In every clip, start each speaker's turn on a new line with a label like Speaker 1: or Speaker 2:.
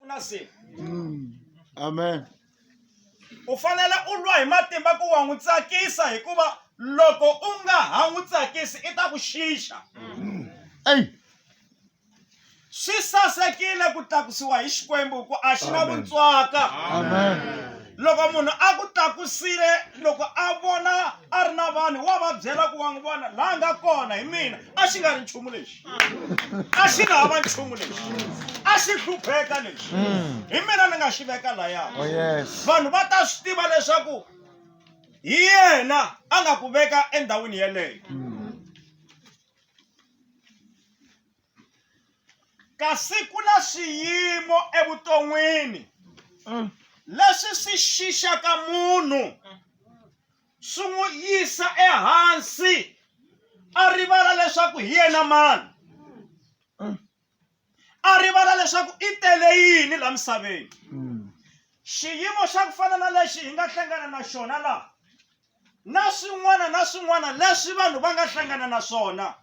Speaker 1: na
Speaker 2: siku mm. amen
Speaker 1: u fanele u lwa hi matimba ku wa n'wi tsakisa hikuva loko u nga ha n'wi tsakisi i ta ku xixa mm. eyi swi sasekile ku tlakusiwa hi xikwembu ku a xi na vuntswaka
Speaker 2: loko munhu
Speaker 1: a ku tlakusile loko a vona a ri na vanhu wa va byela ku wa n'wi vona laha nga kona hi mina a xi nga ri nchumu lexi a xi nga ha va nchumu lexi a xi hlupheka lexi mm. hi mina ni nga xi veka laya oh, vanhu
Speaker 2: va ta swi tiva
Speaker 1: leswaku hi yena a nga ku veka endhawini yeleyo mm. kasi ku na swiyimo evuton'wini mm. leswi swi xixaka munhu swi n'wi yisa ehansi a rivala leswaku hi yena mani a rivala leswaku i tele yini la misaveni xiyimo xa ku fana na lexi hi nga hlangana na xona laha na swin'wana na swin'wana leswi vanhu va nga hlangana na swona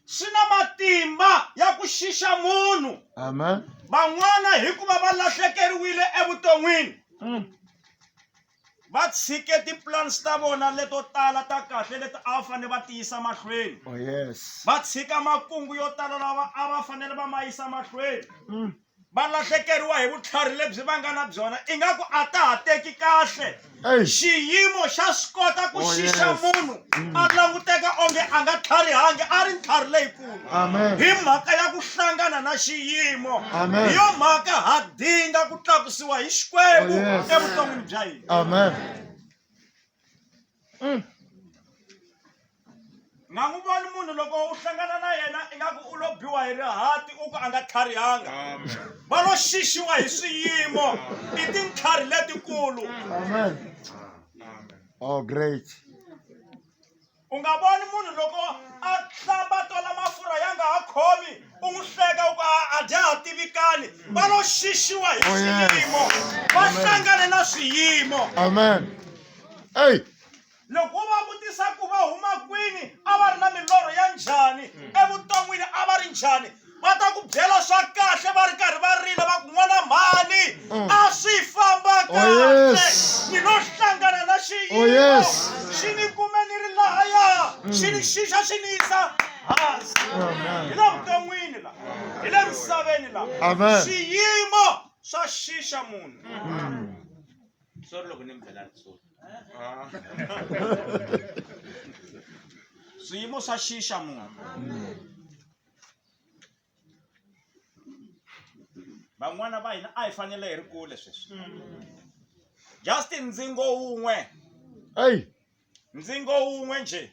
Speaker 1: swi na matimba ya ku xixa munhu amen
Speaker 2: van'wana
Speaker 1: hikuva va lahlekeriwile evuton'wini va tshike ti-plans ta vona leto tala ta kahle leti a va fanele va tiyisa mahlweni Oh yes. va
Speaker 2: tshika makungu
Speaker 1: yo tala lawa a va fanele va ma yisa mahlweni Mm. va lahlekeriwa hi vutlhari lebyi va nga na byona ingaku a ta ha teki kahle Hey. xiyimo xa swi kota ku Oh, xixa yes. munhu a languteka onge a nga tlharihangi a ri ntlhari leyikulu Amen. hi mhaka ya ku hlangana na xiyimo Amen. hi yo mhaka ha dinga ku tlakusiwa hi xikwembu Oh, yes. evuton'wini bya hina Amen. nga n'wi voni munhu loko u hlangana na yena ingaku u lo biwa hi rihati u ku a nga tlharihanga va lo xixiwa hi swiyimo i tintlhari letikulu Amen.
Speaker 2: Oh, great.
Speaker 1: u nga voni munhu loko a hlamba tola mafurha ya nga ha khomi u n'wi hleka u ku a a dya ha tivikani va lo xixiwa hi Oh, yes. swiyimo va Amen. hlangane na swiyimo Amen.
Speaker 2: Hey, loko wo
Speaker 1: va vutisa ku va huma kwini a va ri na milorho ya njhani evuton'wini a va ri njhani va ta ku byela swa kahle va ri karhi va rila va ku n'wana mhani mm. a swi famba oh, kahle ni lo hlangana na xiyimo oh, xi ni kume ni ri lahaya mm. xi ni xixa xi ni yisa hansi hi le vuton'wini la hi le misaveni la xiyimo swa xixa munhu mm. sorry loko ni mi byela sorry ah. swiyimo swa xixa munhu van'wana va hina a hi fanele hi ri kule sweswi just ndzingo wun'we ndzingo wun'we nje